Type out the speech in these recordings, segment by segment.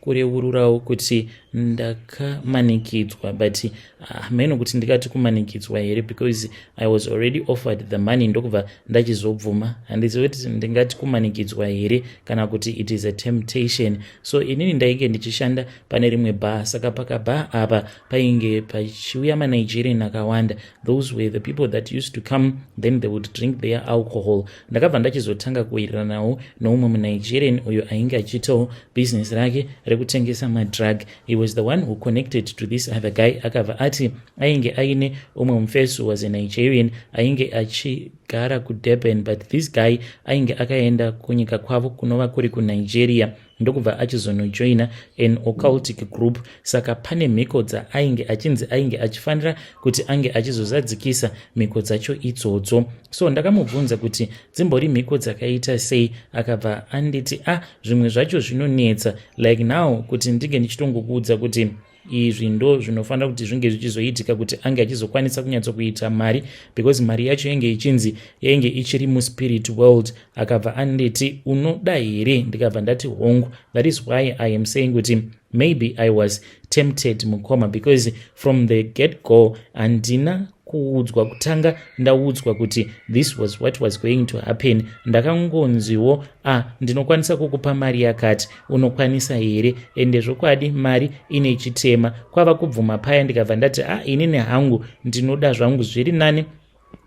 kureururawo kuti ndakamanikidzwa but hameno ah, uh, kuti ndikati kumanikidzwa here because i was already offered the money ndokubva ndachizobvuma handizivi kuti ndingati kumanikidzwa here kana kuti it is a temptation so inini ndainge ndichishanda pane rimwe bha saka pakabha apa painge pachiuya manigerian akawanda those were the people that used to come then they would drink their alcohol ndakabva ndachizotanga kuwiriranawo noumwe munigerian uyo ainge achiitawo business rake rekutengesa madrug he was the one who connected to this other guy akabva ati ainge aine umwe mufesi was a nigerian ainge achigara kudurban but this guy ainge akaenda kunyika kwavo kunova kuri kunigeria ndokubva achizonojoina an occultic group saka pane mhiko dzaainge achinzi ainge achifanira kuti ange achizozadzikisa mhiko dzacho idzodzo so ndakamubvunza kuti dzimbori mhiko dzakaita sei akabva anditi a ah, zvimwe zvacho zvinonetsa like now kuti ndinge ndichitongokuudza kuti izvi ndo zvinofanira kuti zvinge zvichizoitika kuti ange achizokwanisa kunyatsokuita mari because mari yacho yenge ichinzi yainge ichiri muspirit world akabva anditi unoda here ndikabva ndati hongu that is why i am saying kuti maybe i was tempted mukoma because from the get go handina kuudzwa kutanga ndaudzwa kuti this was what was going to happen ndakangonziwo a ah, ndinokwanisa kukupa mari yakati unokwanisa here ende zvokwadi mari ine chitema kwava kubvuma paya ndikabva ndati a ah, inini hangu ndinoda zvangu zviri nani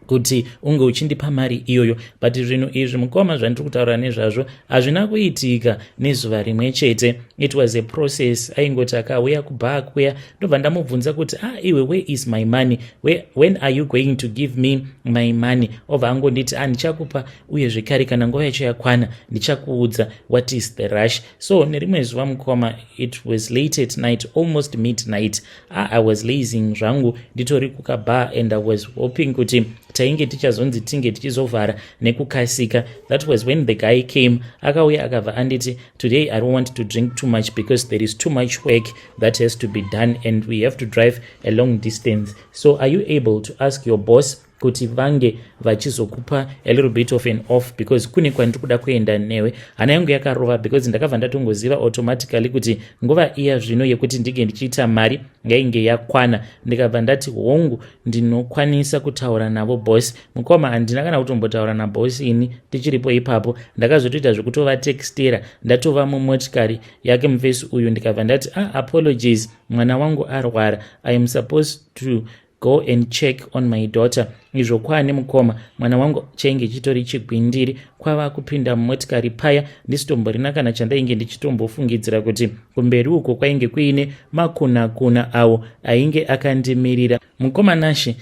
kuti unge uchindipa mari iyoyo but zvinhu izvi mukoma zvandiri kutaura nezvazvo hazvina kuitika nezuva rimwe chete it was a process aingoti akauya kubaa kuya ndobva ndamubvunza kuti ah iwe where is my money where, when are you going to give me my money obva angonditi ah ndichakupa uye zvekare kana nguva yacho yakwana ndichakuudza what is the rush so nerimwe zuva mukoma it was late at night almost midnight ah, i was lazing zvangu nditori kukabar and i was hoping kuti tainge tichazonzi tinge tichizovhara nekukasika that was when the guy came akauya akabva anditi today i don't want to drink too much because there is too much work that has to be done and we have to drive a long distance so are you able to ask your boss kuti vange vachizokupa a little bit of an off because kune kwandiri kuda kuenda newe hana yangu yakarova because ndakabva ndatongoziva automatically kuti nguva iya zvino yekuti ndinge ndichiita mari yainge yakwana ndikabva ndati hongu ndinokwanisa kutaura navo boss mukoma handina kana kutombotaura naboss ini tichiripo ipapo ndakazotoita zvekutova textera ndatova mumotikari yake mufesi uyu ndikabva ndati ah apologies mwana wangu arwara i am supposed to go and check on my daughter izvo kwaane mukoma mwana wangu chainge chitori chigwindiri kwava kupinda mumotikari paya ndisitomborina kana chandainge ndichitombofungidzira kuti kumberi uko kwainge kuine makunakuna awo ainge akandimirira mukoma nashe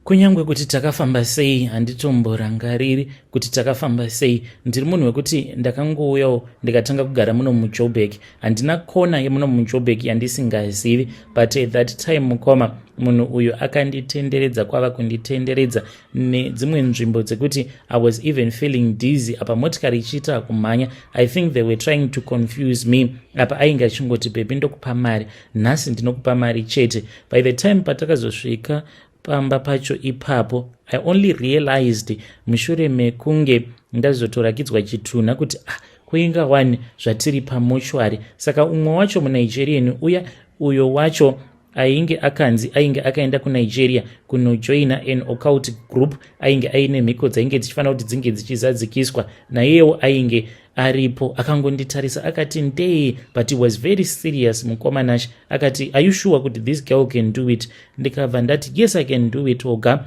Kunyange kuti takafamba sei, handitomborangariri kuti takafamba sei. Ndiri munhu wekuti ndakangouyawo ndikatanga kugara muno muJoburg. Handina kona yemuno muJoburg yandisingazivi, but at that time mukoma munhu uyu akanditenderedza kwava kunditenderedza nedzimwe nzvimbo dzekuti i was even feeling dizzy apa motikari ichiita kumhanya i think they were trying to confuse me apa ainge achingoti bhebhi ndokupa mari nhasi ndinokupa mari chete by the time patakazosvika pamba pacho ipapo i only realized mushure mekunge ndazotorakidzwa chitunha kuti ah kuinga wani zvatiri pamochwari saka umwe wacho munigerian uya uyo wacho ainge akanzi ainge akaenda kunigeria kunojoina an occult group ainge aine mhiko dzainge dzichifanira kuti dzinge dzichizadzikiswa naiyewo ainge aripo akangonditarisa akati ndee but he was very serious mukoma nash akati are you sure kuti this girl can do it ndikabva ndati yes i can do it oga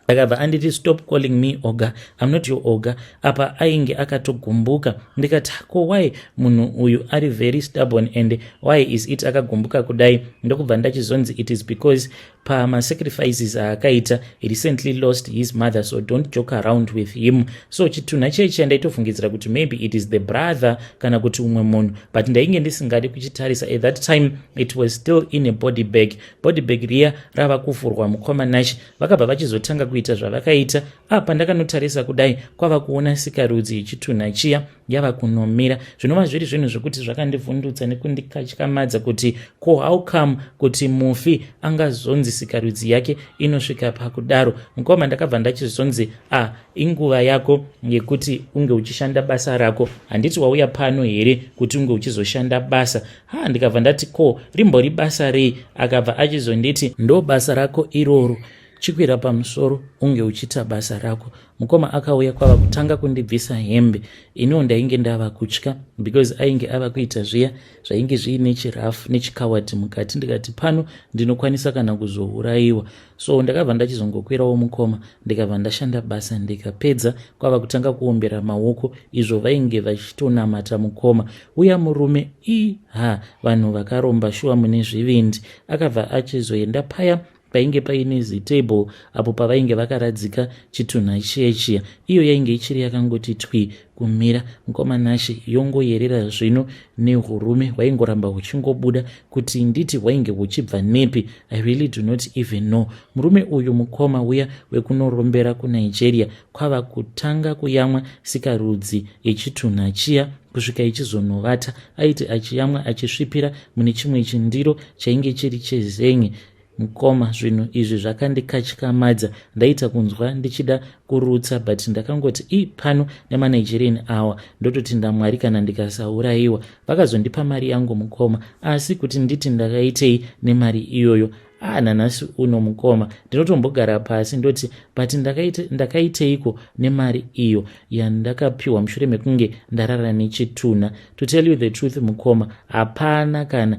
akabva anditi stop calling me oga im not your oga apa ainge akatogumbuka ndikati ko why munhu uyu ari very stubborn and why is it akagumbuka kudai ndokubva ndachizonzi it is because pama sacrifices aakaita he recently lost his mother so don't joke around with him so chitunha chechi andaitofungidzira kuti maybe it is the brother kana kuti umwe munhu but ndainge ndisingadi kuchitarisa at that time it was still in a body bag body bag riya rava kuvhurwa mukoma nash vakabva vachizotanga kuita zvavakaita apa ndakanotarisa kudai kwava kuona sikarudzi chitunha chiya yava kunomira zvinova zviri zvinhu zvekuti zvakandivhundutsa nekundikatyamadza kuti ko how come kuti mufi angazonzi sikarudzi yake inosvika pakudaro mukoma ndakabva ndachizonzi a ah, inguva yako yekuti unge uchishanda basa rako handiti wauya pano here kuti unge uchizoshanda basa ha ndikabva ndati ko rimbori basa rei akabva achizonditi ndo basa rako iroro chikwira pamusoro unge uchiita basa rako mukoma akauya kwava kutanga kundibvisa hembe iniwo ndainge ndava kutya because ainge ava kuita zviya zvainge zviine chirafu nechikawati mukati ndikati pano ndinokwanisa kana kuzourayiwa so ndakabva ndachizongokwirawo mukoma ndikabva ndashanda basa ndikapedza kwava kutanga kuombera maoko izvo vainge vachitonamata mukoma uya murume iha vanhu vakaromba shuwa mune zvivindi akabva achizoenda paya painge paine zitable apo pavainge vakaradzika chitunha chiya chiya iyo yainge ichiri yakangoti twi kumira mukoma nashe yongoyerera zvino nehurume hwaingoramba huchingobuda kuti nditi hwainge huchibva nepi i really do not even know murume uyu mukoma uya wekunorombera kunigeria kwava kutanga kuyamwa sikarudzi yechitunha chiya kusvika ichizonovata aiti achiyamwa achisvipira mune chimwe chindiro chainge chiri chezenye Mkoma zvinhu izvi zvakandikatyamadza ndaita kunzwa ndichida kurutsa but ndakangoti i pano nemanigerian awa ndototi ndamwari kana ndikasaurayiwa vakazondipa mari yangu mukoma asi kuti nditi ndakaitei nemari iyoyo ah nanhasi uno mukoma ndinotombogara pasi ndoti but ndakaiteiko nemari iyo yandakapiwa mushure mekunge ndarara nechitunha to tell you the truth mukoma hapana kana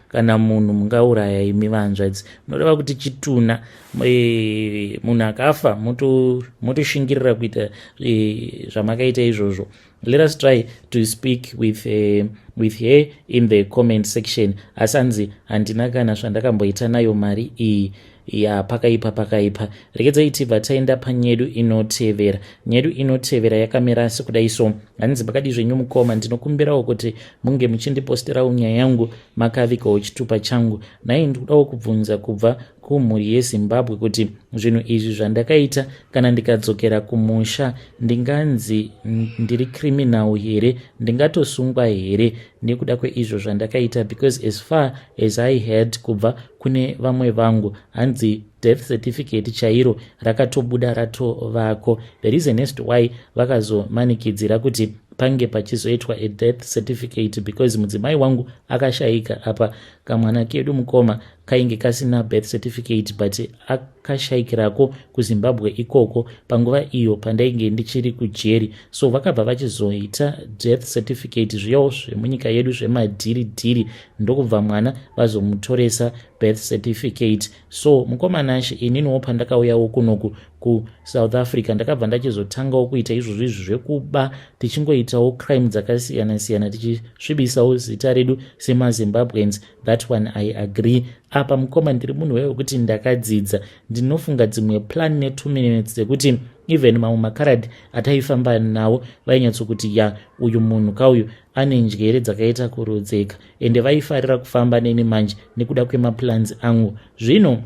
kana munhu mungauraya imi vahanzvadzi munoreva kuti chitunha eh, munhu akafa motoshingirira kuita eh, zvamakaita izvozvo let us try to speak with, uh, with her in the comment section asi anzi handina kana zvandakamboita nayo mari iyi ya pakaipa pakaipa rekedzai tibva taenda panyedu inotevera nyedu inotevera yakamira asi kudai so hanzi pakadii zvenyu mukoma ndinokumbirawo kuti munge muchindiposterawo nyaya yangu makavikawo chitupa changu nhai ndikudawo kubvunza kubva kumhuri yezimbabwe kuti zvinhu izvi zvandakaita kana ndikadzokera kumusha ndinganzi ndiri criminal here ndingatosungwa here nekuda kweizvo zvandakaita because as far as i heard kubva kune vamwe vangu hanzi death certificate chairo rakatobuda ratovako the reason as to why vakazomanikidzira kuti pange pachizoitwa a death certificate because mudzimai wangu akashaika apa kamwana kedu mukoma kainge kasina birth certificate but akashaikirako kuzimbabwe ikoko panguva iyo pandainge ndichiri kujeri so vakabva vachizoita death certificate zviyawo zvemunyika yedu zvemadhiri dhiri ndokubva mwana vazomutoresa birth certificate so mukomanashe ininiwo pandakauyawo kunoku kusouth africa ndakabva ndachizotangawo kuita izvozvo izvi zvekuba tichingoitawo crime dzakasiyana siyana tichisvibisawo zita redu semazimbabweans That one I agree. Apa mukoma ndiri munhu wewe kuti ndakadzidza. Ndinofunga dzimwe plan ne 2 minutes dzekuti even mamwe makarad ataifamba nawo vainyatso kuti ya uyu munhu kauyu ane njere dzakaita kurodzeka ende vaifarira kufamba neni manje nekuda kwemaplans angu. Zvino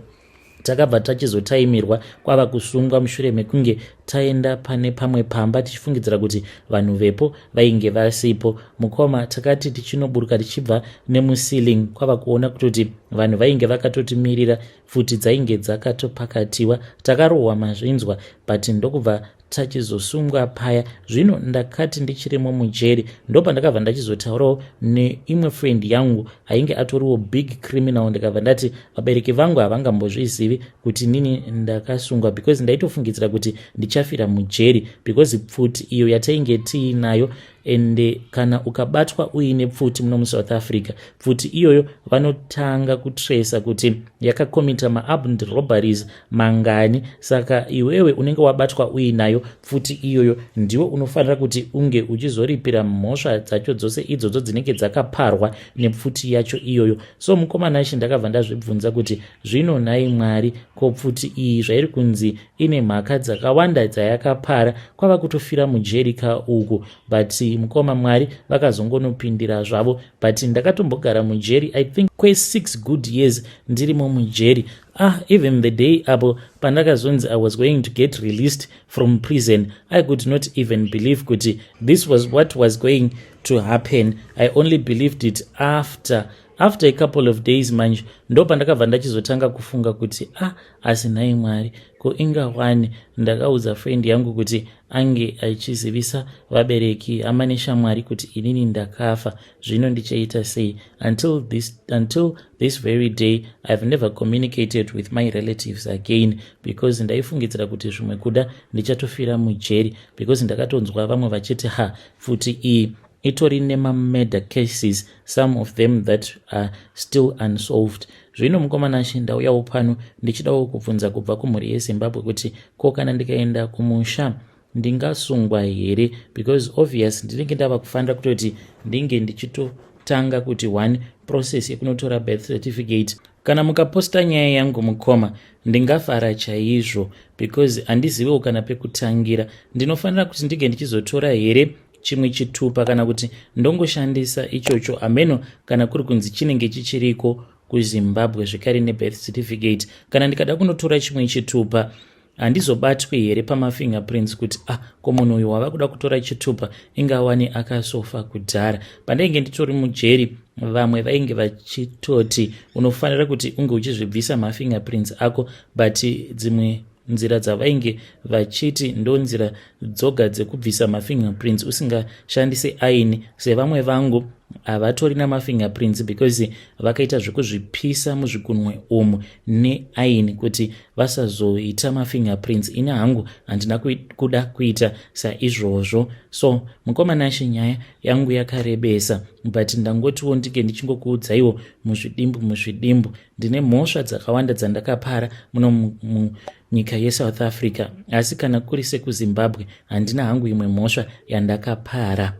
takabva tachizotaimirwa kwava kusungwa mushure mekunge taenda pane pamwe pamba tichifungidzira kuti vanhu vepo vainge vasipo mukoma takati tichinoburuka tichibva nemuceiling kwava kuona kutoti vanhu vainge vakatotimirira futi dzainge dzakatopakatiwa takarohwa mazvinzwa but ndokubva tachizosungwa paya zvino ndakati ndichirimo mujeri ndopandakabva ndachizotaurawo neimwe friend yangu ainge atoriwo big criminal ndikabva ndati vabereki vangu havangambozvizivi kuti nini ndakasungwa because ndaitofungidzira kuti ndichafira mujeri because pfuti iyo yatainge tiinayo and eh, kana ukabatwa uine pfuti muno musouth africa pfuti iyoyo vanotanga kutresa kuti yakakomita maabnd robaries mangani saka iwewe unenge wabatwa uinayo pfuti iyoyo ndiwo unofanira kuti unge uchizoripira mhosva dzacho dzose idzodzo dzinenge dzakaparwa nepfuti yacho iyoyo so mukomana shi ndakabva ndazvibvunza kuti zvino nhai mwari ko pfuti iyi zvairi kunzi ine mhaka dzakawanda dzayakapara kwava kutofira mujeri ka uku but mukoma mwari vakazongonopindira zvavo but ndakatombogara mujeri i think kwesix good years ndirimo mujeri ah even the day apo pandakazonzi i was going to get released from prison i could not even believe kuti this was what was going to happen i only believed it after after a couple of days manje ndo pandakabva ndachizotanga kufunga kuti ah asi nhai mwari ko inga wani ndakaudza friend yangu kuti ange achizivisa vabereki hama neshamwari kuti inini ndakafa zvino ndichaita sei until this, until this very day ihave never communicated with my relatives again because ndaifungidzira kuti zvimwe kuda ndichatofira mujeri because ndakatonzwa vamwe vachiti ha pfuti iyi itori nemamurder cases some of them that are still unsolved zvino mukomanashe ndauyawo pano ndichidawo kubvunza kubva kumhuri yezimbabwe kuti ko kana ndikaenda kumusha ndingasungwa here because obvious ndinenge ndava kufanira kutoti ndinge ndichitotanga kuti one process yekunotora birth certificate kana mukaposta nyaya yangu mukoma ndingafara chaizvo because handizivewo kana pekutangira ndinofanira kuti ndinge ndichizotora here chimwe chitupa kana kuti ndongoshandisa ichocho hameno kana kuri kunzi chinenge chichiriko kuzimbabwe zvekare nebirth certificate kana ndikada kunotora chimwe chitupa handizobatwi here pamafingerprints kuti ah ko munhu uyu wava kuda kutora chitupa ingawani akasofa kudhara pandainge nditori mujeri vamwe vainge vachitoti unofanira kuti unge uchizvibvisa mafingerprints ako but dzimwe nzira dzavainge vachiti ndonzira dzoga dzekubvisa mafingerprints usingashandise aini sevamwe vangu havatori namafingerprints because vakaita zvekuzvipisa muzvigunwe umu neaini kuti vasazoita mafingerprints ini hangu handina kuda kuita saizvozvo so mukoma nashe nyaya yangu yakarebesa but ndangotiwo ndike ndichingokuudzaiwo muzvidimbu muzvidimbu ndine mhosva dzakawanda dzandakapara muno munyika yesouth africa asi kana kuri sekuzimbabwe handina hangu imwe mhosva yandakapara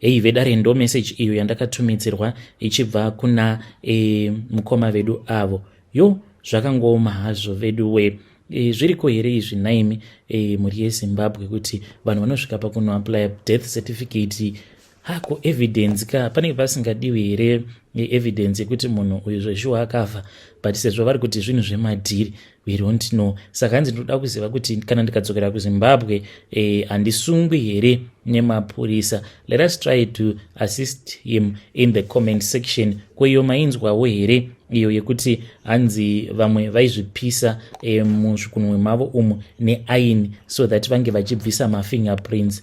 heyi vedare ndo meseji iyo yandakatumidzirwa ichibva kuna e, mukoma vedu avo yo zvakangooma hazvo vedu we e, zviriko here izvi naimi e, mhuri yezimbabwe kuti vanhu vanosvika pakunoaplya death certificate hako evidence ka panenge pasingadiwi here evidence yekuti munhu uyu zveshuwa akafa but sezvo vari kuti zvinhu zvemadhiri we don't know saka hanzi ndinoda kuziva kuti kana ndikadzokera kuzimbabwe eh, handisungwi eh, here nemapurisa let us try to assist him in the comment section ko iyo mainzwawo here iyo yekuti hanzi vamwe vaizvipisa eh, muzvikunwe mavo umu neaini so that vange vachibvisa mafingerprints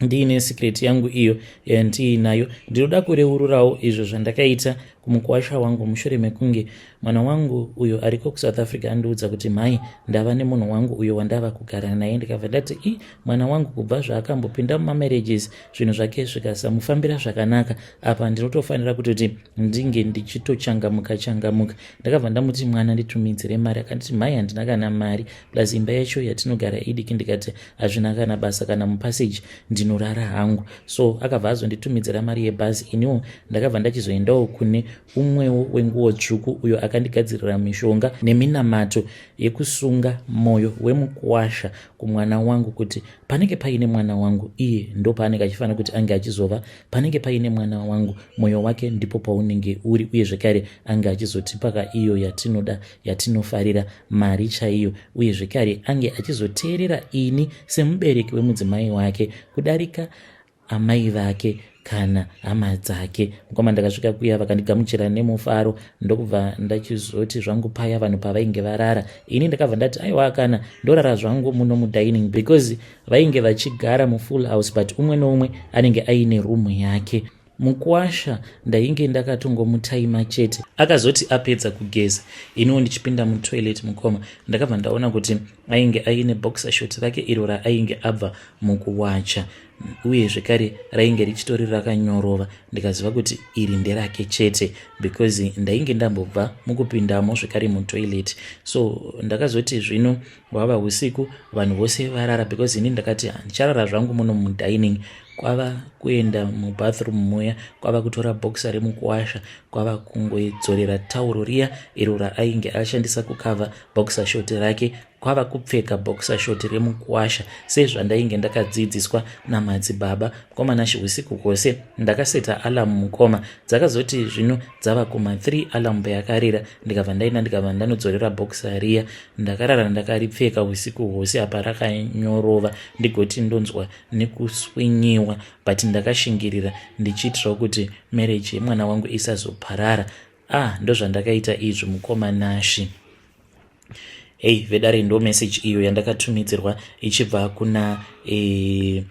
ndiine secret yangu iyo yandiinayo ndinoda kureururawo izvo zvandakaita kumukwasha wangu mushure mekunge mwana wangu uyo ariko kusouth africa andiudza kuti mhai ndava nemunhu wangu uyo wandava kugara naye ndikabva ndati i mwana wangu kubva zvaakambopinda mumamarriages zvinhu zvake zvikasamufambira zvakanaka apa ndinotofanira kutoti ndinge ndichitochangamuka changamuka ndakabva ndamuti mwana nditumidzire mari akanditi mhai handina kana mari plus imba yacho yatinogara idiki ndikati hazvina kana basa kana mupassage ndinorara hangu so akabva azonditumidzira mari yebhazi iniwo ndakabva ndachizoendawo kune umwewo wenguwo tsvuku uyo akandigadzirira mishonga neminamato yekusunga mwoyo wemukwasha kumwana wangu kuti panenge paine mwana wangu iye ndopaanenge achifanira kuti ange achizova panenge paine mwana wangu mwoyo wake ndipo paunenge uri uye zvekare ange achizotipaka iyo yatinoda yatinofarira mari chaiyo uye zvekare ange achizoteerera ini semubereki wemudzimai wake kudarika amai vake kana hama dzake mukoma ndakasvika kuya vakandigamuchira nemufaro ndokubva ndachizoti zvangu paya vanhu pavainge varara ini ndakabva ndati aiwa kana ndorara zvangu muno mudining because vainge vachigara mufull house but umwe noumwe anenge aine room yake Mukuwasha ndainge ndakatongomutaima chete. Akazoti apedza kugeza iniwo ndichipinda mutoilet mukoma ndakabva ndaona kuti ainge aine boxer short rake iro raainge abva mukuwacha uye zvekare rainge richitori rakanyorova ndikaziva kuti iri nderake chete because ndainge ndambobva mukupindamo zvekare mutoilet so ndakazoti zvino Hwava husiku vanhu vose varara because ini ndakati handicharara zvangu muno mudining kwava kuenda mubathroom muya kwava kutora boxa remukuwasha kwava kungodzorera tauro riya iro raainge ashandisa kukava boxa short rake kwava kupfeka boxa short remukuwasha sezvandainge ndakadzidziswa namadzibaba mukomana shihusiku kwose ndakaseta alarm mukoma dzakazoti zvino dzava kuma 3 alarm peyakarira ndikabva ndaenda ndikabva ndanodzorera bokisa riya ndakarara ndakaripfeka usiku hwose apa rakanyorova ndigoti ndonzwa nekuswinyiwa but ndakashingirira ndichiitirawo kuti marriage yemwana wangu isazoparara ah ndozvandakaita izvi mukoma nashi hei vedare ndo message iyo yandakatumidzirwa ichibva kuna e,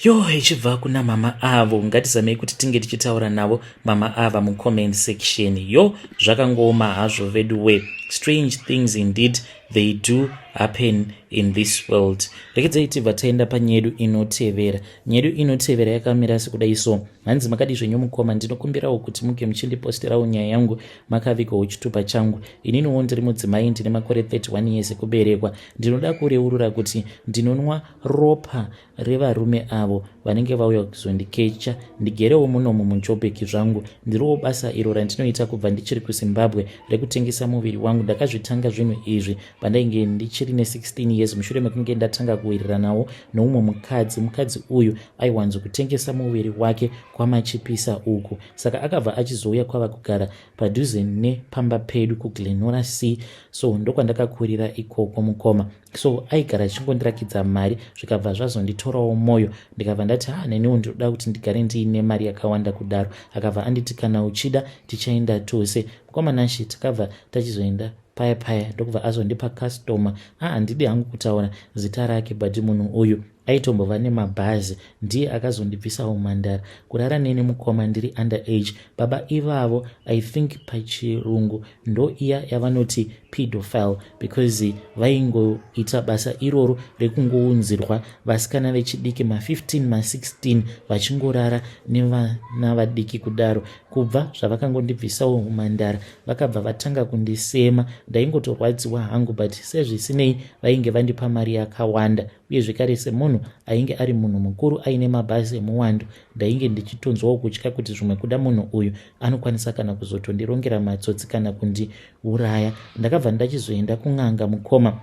Yo ichibva kuna mama avo ngatizamei kuti tinge tichitaura navo mama ava mucomment section yo zvakangooma hazvo vedu we strange things indeed they do happen in this world rekedzai tibva taenda panyedu inotevera nyedu inotevera yakamira sekudai so hanzi makadi zvenyu mukoma ndinokumbirawo kuti muke muchindipostirawo nyaya yangu makavigwa uchitupa changu ininiwo ndiri mudzimai ndine makore 31 years ekuberekwa ndinoda kureurura kuti ndinonwa ropa revarume avo vanenge vauya kuzondikecha ndigerewo munomu munjobheki zvangu ndiriwo basa iro randinoita kubva ndichiri kuzimbabwe rekutengesa muviri wangu ndakazvitanga zvinhu izvi pandainge ndichiri ne16 years mushure mekunge ndatanga kuwiriranawo noumwe mukadzi mukadzi uyu aiwanzo kutengesa muviri wake kwamachipisa uku saka akabva achizouya kwava kugara padhuze nepamba pedu kuglenora sea so ndokwandakakurira ikoko mukoma so aigara achingondirakidza mari zvikabva zvazonditorawo mwoyo ndikabva ndati ha neniwo ndinoda kuti ndigare ndiine mari yakawanda kudaro akabva anditi kana uchida tichaenda tose mukomanashe takabva tachizoenda paya paya ndokubva azondipa customer a handidi hangu kutaura zita rake but munhu uyu aitombova nemabhazi ndiye akazondibvisa umhandara kurara neni mukoma ndiri under age baba ivavo i think pachirungu ndo iya yavanoti pedofile because vaingoita basa iroro rekungounzirwa vasikana vechidiki ma15 ma16 vachingorara nevana vadiki kudaro kubva zvavakangondibvisawo umhandara vakabva vatanga kundisema ndaingotorwadziwa hangu but sezvisinei vainge vandipa mari yakawanda uye zvekare semunhu ainge ari munhu mukuru aine mabhazi emuwando ndainge ndichitonzwawo kutya kuti zvimwe kuda munhu uyu anokwanisa kana kuzotondirongera matsotsi kana kundiuraya ndakabva ndachizoenda kun'anga mukoma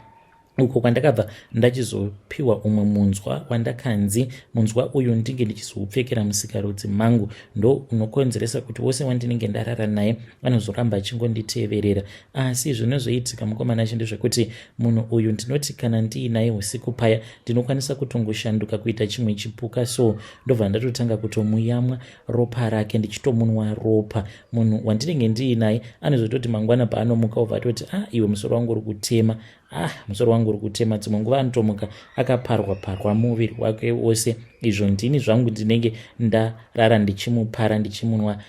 uko kwandakabva ndachizopiwa umwe munzwa wandakanzi munzwa uyu ndinge ndichizoupfekera musikarudzi mangu ndo unokonzeresa kuti wose wandinenge ndarara naye anozoramba achingonditeverera asi zvinozoitika mukomana chi ndezvekuti munhu uyu ndinoti kana ndiinaye usiku paya ndinokwanisa kutongoshanduka kuita chimwe chipuka so ndobva ndatotanga kutomuyamwa ropa rake ndichitomunwa ropa munhu wandinenge ndiinaye anozototi mangwana paanomuka obva atoti ah iwe musoro wangu uri kutema ah musoro wangu uri kutema dzimwe nguva anotomuka akaparwa parwa muviri wake wose izvo ndini zvangu ndinenge ndarara ndichimupara ndichimunwa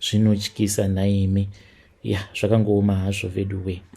zvinotyisa nhaimi ya zvakangooma hazvo veduwee.